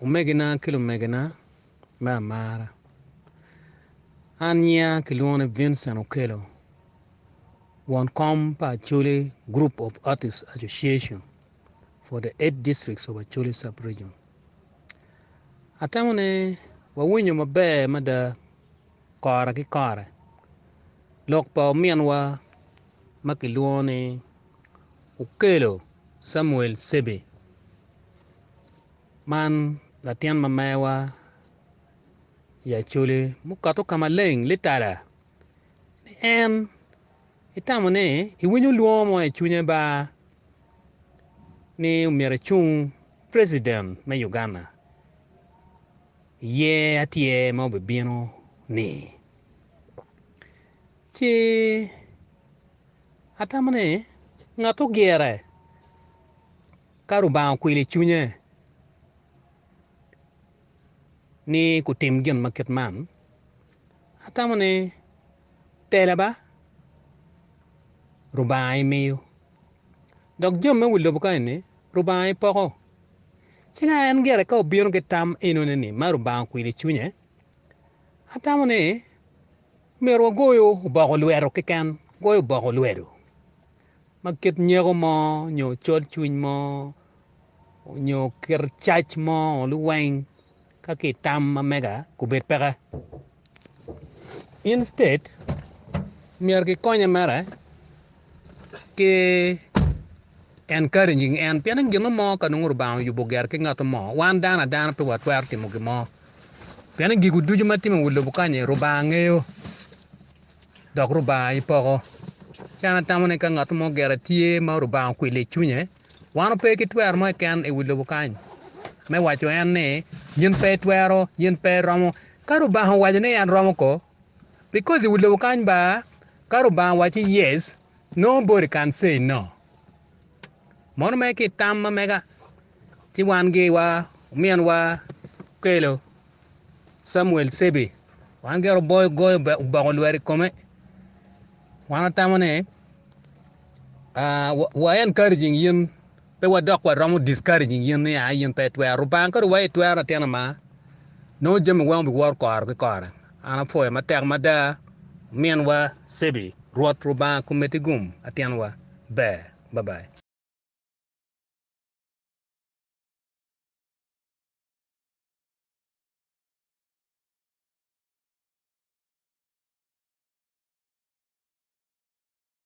Omegina ki lumegina me amara, An nyinga kilwongo ni Vincent Okello, won kom pa Acholi Group of Artists Association for the Eight Districts of Acholi Sub-Region. Atamo ni wawinyo maber mada. kore ki kore. Lok pa ominwa ma kilwongo ni Okello Samuel Ssebbe man latin ma meya i Acholi mukato ka maleng litala ni en etamo ni ewinyo lwongo mo i cwinye ba ni myero ecung President me Uganda. Iye atye ma obibino-ni. Ci atamo ni ngatto gire ka Lubanga okwilo i cwinye ni gutim gin ma kit man, atamo ni tela ba Lubanga imiyo. Dok jami me wi lobo kany ni, Rubanga i poko. Ci ka en gire ka obino ki tam enoni ni ma Rubanga okwilo i cwinye, Atamo ni omyero wagoyo oboko lwedo keken, goyo oboko lwedo ma kit nyeko mo nyo col cwiny mo nyo kit cac mo liweng Ka ki tam ma mega gubed peke. Instead, myero ki konye mere ki encouraging en pien en gino mo ka nongo Lubanga oyubo ger ki ngato mo wan dano adana pe wa twero timo gin mo pien ni gigo ducu ma timo i wi lobo kany-nyi Lubanga ngeyo dok Lubanga aye poko. Ci an atamo ni ka ngato mo gire tye ma Lubanga okwilo i cwinye, Wan ope ki twero mo keken i wi lobo kany me waco en ni yin pe itwero, yin pe iromo. Ka Lubanga owaco ni en romo ko, because i wi lobo kany ba ka Lubanga waci yes nobody can say no. Mono mere ki itam ma mega ci wan giwa omin wa okelo Samuel Cebi wan gire oboyo goyo oboko lwet i kome wan watamo ni Ahh wa encouraging yin pe wa dok wa romo discouraging yin ni aa yin pe itwero Lubanga kadi wa itwero latin ama nongo jami weng obi woro kore ki kore an apwoyo matek mada omin wa Cebi Rwot Lubanga komedi gum latin wa ber bye bye.